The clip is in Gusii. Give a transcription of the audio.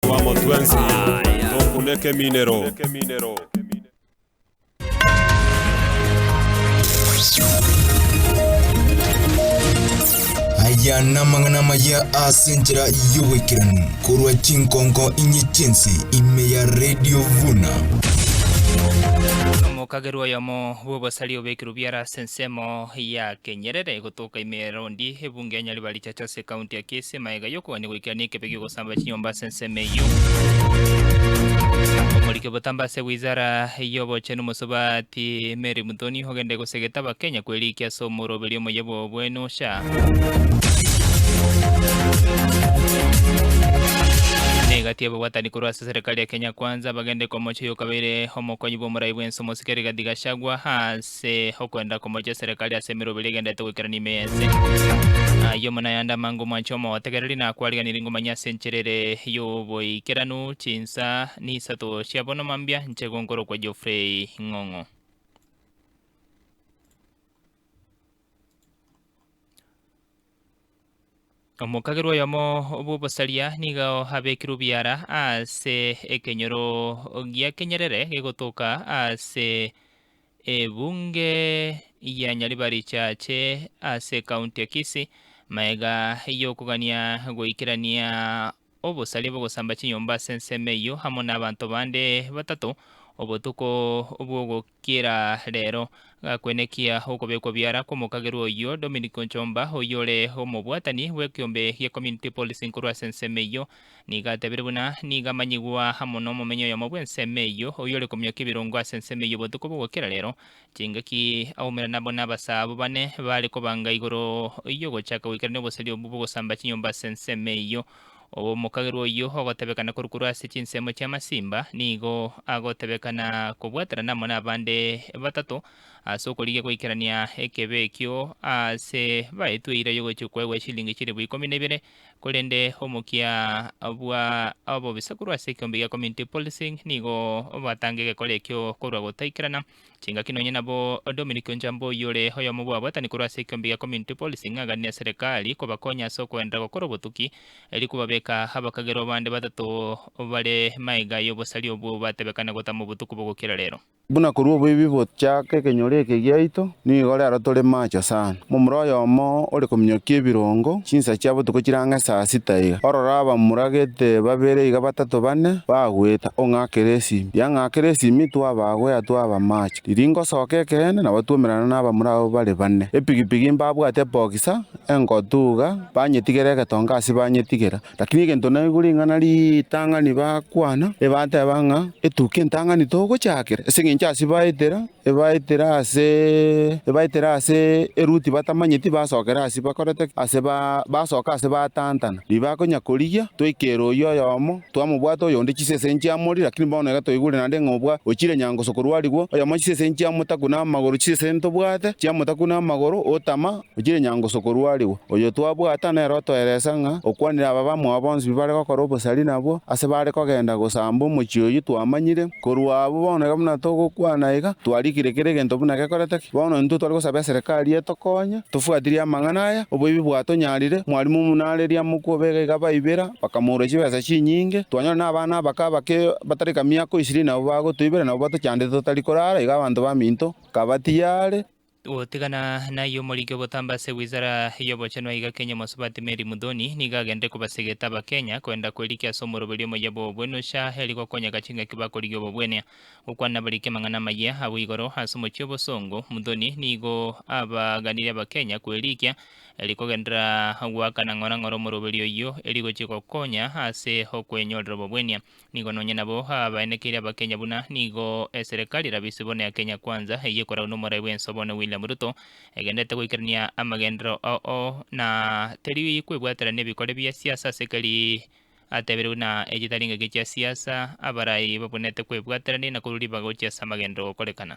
Twamo twensi tokune ekeminero. Aya namang'ana amaya ase enchera y'oboikeranu korwa chinkonko inye chiense ime ya Radio Vuna. Omokagerwa oyomo bw'obosari obekirwe biara ase ensemo ya Kenyerere gotoka ime ya Rondi, ebunge ya Nyaribari Eto ase ekaunti ya Kisii emagega y'okogania goikerania ekebe gi'ogosamba chinyomba ase ensemo eyio. Omoriki obotambe ase wizara y'obochenu Mosubati Mary Muthoni ogende gosegete abakenya kwerikia ase omoroberio omoyia bw'obobwenu sha. Na egati y'ababwatani korwa ase serikali ya Kenya Kwanza bagende komocha oyokabeire omokonyi bw'omorai bw'ense omosike Rigathi Gachagua ase ase okwenda komocha eserekari ase emeroberi egenderete goikerania ime y'ense. Aye omona yande amange omwanche omotegereri nakwariganirie ngomanyia ase enchera ere y'oboikeranu chinsa nisato chia bono mambia nche gonkorokwa Geoffrey Ng'ong'o. Omokagerwa oyomo bw'obosaria nigo abekirwe biara ase ekenyoro gia kenyerere gegotoka ase ebunge ya Nyaribari Church ase ekaunti ya Kisii, maega y'okogania goikerania Obosaria bw'ogosamba chinyomba ase ensemo eyio amo n'abanto bande batato obotuko bw'ogokiera reero. Gakwenekia okobekwa biara kw'omokagerwa oyio Dominic Onchomba oyore omobwatani bw'ekiombe gia Community Policing korwa ase ensemo eyio nigo atebire buna nigo amanyigwa amo n'omomenyi oyomo bw'ensemo eyio oyore komiokia ebirongo ase ensemo eyio obotuko bw'ogokiera reero Chingaki aumera nabo n'abasaa abwo bane baare kobanga igoro y'ogochaka goikerania oboseri obwo bw'ogosamba chinyomba ase ensemo eyio. Omokagerwa oyio ogotebekana korwa korwa ase chinsemo chi'amasimba nigo agotebekana kobwaterana amo n'abande batato ase okorigia goikerania ekebe ekio aase baetwe eira y'ogochia okwaigwa eshilingi chilifu ikomi na ibere, korende omokia bwa obobisaku korwa ase ekeombe gia Community Policing nigo batange egekora ekio korwa gotaikerana Chingaki nonye nabo Dominic Onjambo oyio ore oyomo bw'abaatani korwa ase ekiombe gia Community Policy ing'ang'ani na serekari kobakonya ase okoenderera gokora obotuki erio kobabeka abakagerwa bande batato bare maega y'obosari obwo batebekana gotama obotuko bogokira rero. Buna korwa oboibi bochaka ekenyoro eke giaito, nigo rero tore macho sana. Momura oyomo ore kominyokia ebirongo, chinsa chia botuko chire ang'e saa sita iga. Ororo abamura gete babere iga batato bane, bagweta, Ong'akere esimi! Yang'akera esimi, twabagwe yatwaba amache. Riria ingosoka ekeene, nabo twoumerana n'abamura abwo bare bane. Epigipigi mbabwate bokisa, engotu iga, banyetigera egetonga ase banyetigera. Lakini egento naigure ing'ana ritang'ani bakwana, ebateba ng'a, Etuke entang'ani togochakera, ase engencho ase baetera, ebaetera ase, ebaetera ase eruti batamanyeti basokera ase bakorete ki? Ase ba, basoka ase batantana. Ribaga konya korigia, twaikera oyio oyomo, twamobwata oyonde chisese nchiamori, lakini bono iga toigure naende ng'a obwa, ochire nyango sokorwarigwa, oyomo chisese nchiamotaku namagoro, chisese ntobwate chiamotaku namagoro, otama, Ochire nyangusu korwarigwa, oyo twabwata nere otoereise ng'a okwanire aba bamwabo bonsi bi bare gokora obosari nabwo ase bare kogenda gosamba omochie oyio twamanyire. Korwa abwo bono iga buna togokwana iga, twarikire kera egento buna gekorete ki. Bono intwe tware gosaba eserekari etokonye, tofwatirie amang'ana aya, oboibi bwatonyarire, mwarimu buna are riamokwa obega iga baibera, bakamourwa chibesa chinyinge, twanyora nabana abake abake batari ka miaka o ishirini nabo bagotoibera nabo batochandete totari korara, iga abanto baminto nkabatiga are. Gotigana nayio omoriki obotamba ase wizara y'obochenu aiga Kenya Omosubati Mary Mudhoni nigo agenderete kobasegeta abakenya koenda koirikia ase omoroberi omoyia bw'obobwene ocha eri gokonyeka chingaki bakorigia obobwene. Gokwana nabariki amang'ana amayia abwo igoro ase omochie obosongo, Mudhoni nigo abaganire abakenya kwerikia eri kogenderera goakana ng'ora ng'ora omoroberi oyio eri gochia gokonya ase okwenyorera obobwenia. Nigo nonye nabo abaenekeire abakenya buna nigo eserekari erabe ise bono ya Kenya Kwanza eyio ekoragwa nomorai bwensa bono William Ruto egenderete goikerania amagenderero oo na teri kwebwatera nebikore bia siasa ase keri ateberigwe na echitari ngaki chia siasa abarai babwenerete kwebwaterania na korwa ribaga gochia ase amagenderero gokorekana.